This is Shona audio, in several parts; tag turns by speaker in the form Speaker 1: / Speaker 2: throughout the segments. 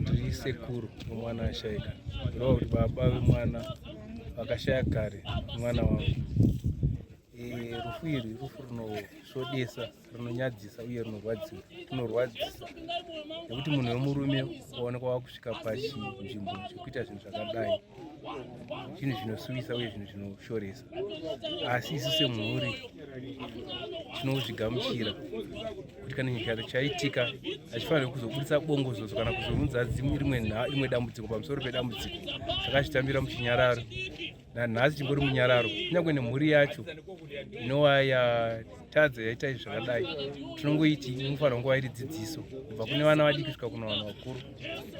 Speaker 1: ndiri sekuru wemwana ashaika kureva kuti baba vemwana vakashaya kare mwana wangu rufu iri rufu rinosvodesa rinonyadzisa uye rinorwadzisa rinorwadzisa nekuti munhu wemurume waonekwa wakusvika pachinzvimbo chekuita zvinhu zvakadai zvinhu zvinosuvisa uye zvinhu zvinoshoresa asi isu semhuri tinozvigamuchira kuti kana nyika chaitika hachifanire kuzobudisa bongozozo kana kuzovunza rimwe dambudziko pamusoro pedambudziko saka chitambira muchinyararo nanhasi chingori munyararo kunyange nemhuri yacho inova tadzo yaitai zvakadai tinongoiti inofanira kunge wairi dzidziso kubva kune vana vadiki kusvika kuna vanhu vakuru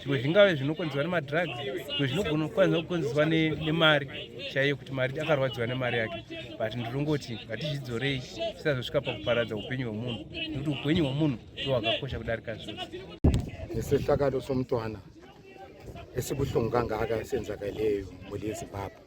Speaker 1: zvimwe zvingave zvinokonzerwa nemadrugs zvimwe zvinogona kukonzerwa nemari chaiyo kuti mari akarwadziwa nemari yake but ndinongoti ngatizvidzorei tisazosvika pakuparadza upenyu hwemunhu nekuti upenyu hwemunhu ndo hwakakosha kudarika zvose nesehlakalo
Speaker 2: somntwana esibuhlungu kangaka senzakaleyo muli yezimbabwe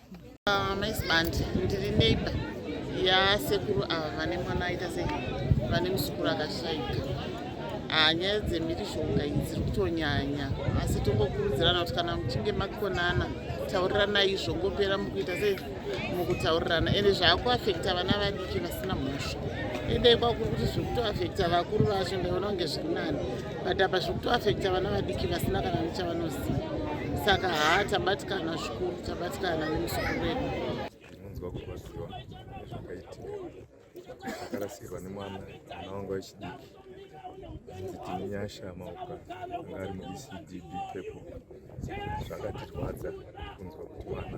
Speaker 2: Ah, mai sibandi
Speaker 3: ndiri neighbor yasekuru ava vane mwana aita sei vane musukuru akashaika ah, nyaya dzemhirizhonga idzi dziri kutonyanya asi tongokurudzirana kuti kana muchinge makonana taurirana izvo ngopera mukuita sei mukutaurirana ende zvaakuafekta vana vadiki vasina mhosva idai kwakuri kuti zviri kutoafekta vakuru vacho ndaiona kunge zviri nani but apa zviri kutoafekta vana vadiki vasina kana nechavanoziva saka haa tabatikana zvikuru tabatikana nemuzukuru wedu ndinonzwa
Speaker 4: kurwadziwa nezvakaitika akarasirwa nemwana mwana wangu wechidiki hanzi tine nyasha mauka anga ari muecd bpeple zvakatirwadza kunzwa kuti mwana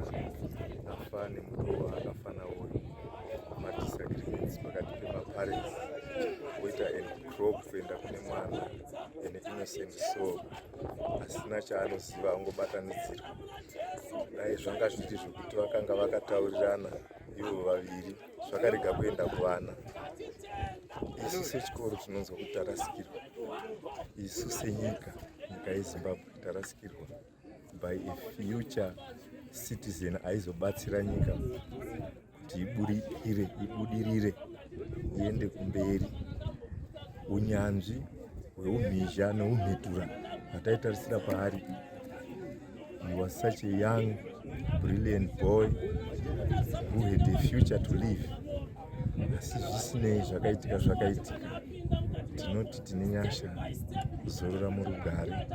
Speaker 4: afa nemurowa akafa nawo madisagreements pakati pemaparents woita and crop kuenda kune mwana ane innocent soul asina chaanoziva angobatanidzirwa dai zvanga zviri zvekuti vakanga vakataurirana ivo vaviri zvakarega kuenda kuvana isu sechikoro tinonzwa kuti tarasikirwa isu senyika nyika yezimbabwe tarasikirwa by a future citizen aizobatsira nyika kuti ibudirire ibudirire iende kumberi unyanzvi hweumhizha neumhitura hwataitarisira paari he was such a young brilliant boy who had a future to live asi zvisinei zvakaitika zvakaitika tinoti tine nyasha zorora murugare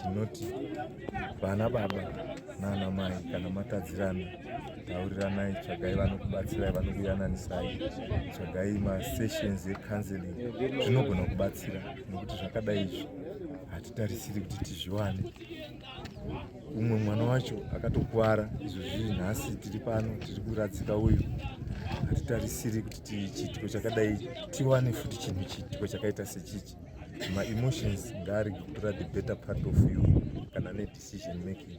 Speaker 4: tinoti vana baba nana mai kana matadzirana tauriranai tsvagai vanokubatsirai vanokuyananisai tsvagai masessions ecounseling zvinogona kubatsira nokuti zvakadai izvi hatitarisiri kuti tizviwane umwe mwana wacho akatokuvara izvo zviri nhasi tiri pano tiri kuradzika uyu hatitarisiri kuti chiitiko chakadai tiwane futi chinhu chiitiko chakaita sechichi maemotions ngaarege kutora the better part of you kana nedecision making